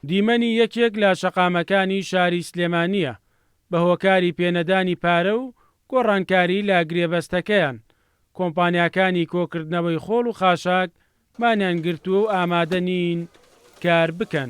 دیمەنی یەکێک لە شەقامەکانی شاری سلێمانییە بە هۆکاری پێنەدانی پارە و گۆڕانکاری لە گرێبەستەکەیان، کۆمپانیاکانی کۆکردنەوەی خۆڵ و خاشاک مانیان گرتووە و ئامادە نین کار بکەن.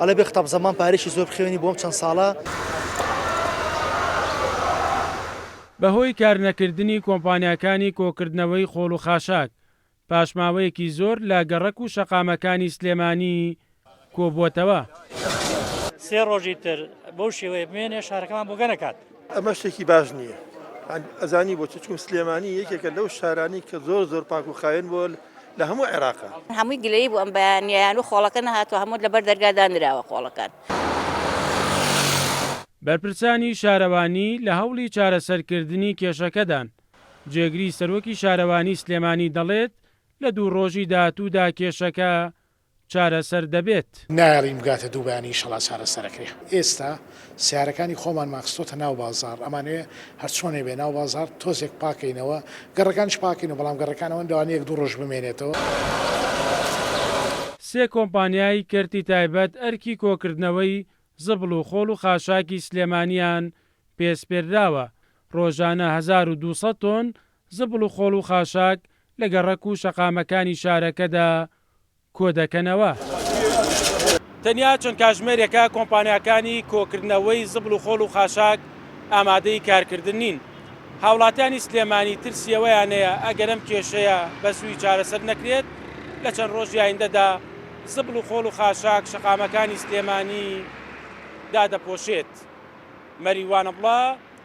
ئەڵێ بێ قتاب زەمان پارەیەکی زۆر بخەوێنی بۆ ئەم چەند ساڵە. بەهۆی کارنەکردنی کۆمپانیاکانی کۆکردنەوەی خۆڵ و خاشاک، پاش ماوەیەکی زۆر لە گەڕەک و شەقامەکانی سلێمانی کۆبووەتەوە. سێ ڕۆژی تر بەو شێوەیە بمێنێ شارەکەمان بۆگەنەکات. ئەمە شتێکی باش نییە ئەزانی بۆچی چون سلێمانی یەکێکە لەو شارانی کە زۆر زۆر پاک و خاوێن بۆ لە هەموو عێراقا هەمووی گلەی بوو ئەم بەیانیان و خۆڵەکە نەهاتوە هەموو لەبەر دەرگادا نراوە خۆڵەکان. بەرپرسانی شارەوانی لە هەوڵی چارەسەرکردنی کێشەکەدان، جێگری سەرۆکی شارەوانی سلێمانی دەڵێت، لە دوو ڕۆژی داهاتوودا کێشەکە چارەسەر دەبێت. نایەڵین بگاتە دوو بەیانی ئیشەڵا چارەسەر ئەکرێ. ئێستا سیارەکانی خۆمانمان خستۆتە ناو بازاڕ ئەمانەوێ هەرچۆنێ بێ ناو بازاڕ تۆزێک پاکەینەوە گەڕەکانیش پاکەینەوە بەڵام گەڕەکان ئەوەن لەوانە یەک دوو ڕۆژ بمێنێتەوە. سێ کۆمپانیای کەرتی تایبەت ئەرکی کۆکردنەوەی زبڵ و خۆڵ و خاشاکی سلێمانییان پێ سپێردراوە، ڕۆژانە هەزار و دوو سەد تۆن زبڵ و خۆڵ و خاشاک لە گەڕەک و شەقامەکانی شارەکەدا کۆدەکەنەوە. تەنیا چەند کاژمێرێکە کۆمپانیاکانی کۆکردنەوەی زبڵ و خۆڵ و خاشاک ئامادەی کارکردن نین. هاوڵاتیانی سلێمانی ترسی ئەوەیانەیە ئەگەر ئەم کێشەیە بەزووی چارەسەر نەکرێت لە چەند ڕۆژی ئایندەدا زبڵ و خۆڵ و خاشاک شەقامەکانی سلێمانی دادەپۆشێت. مەریوان ئەبڵە.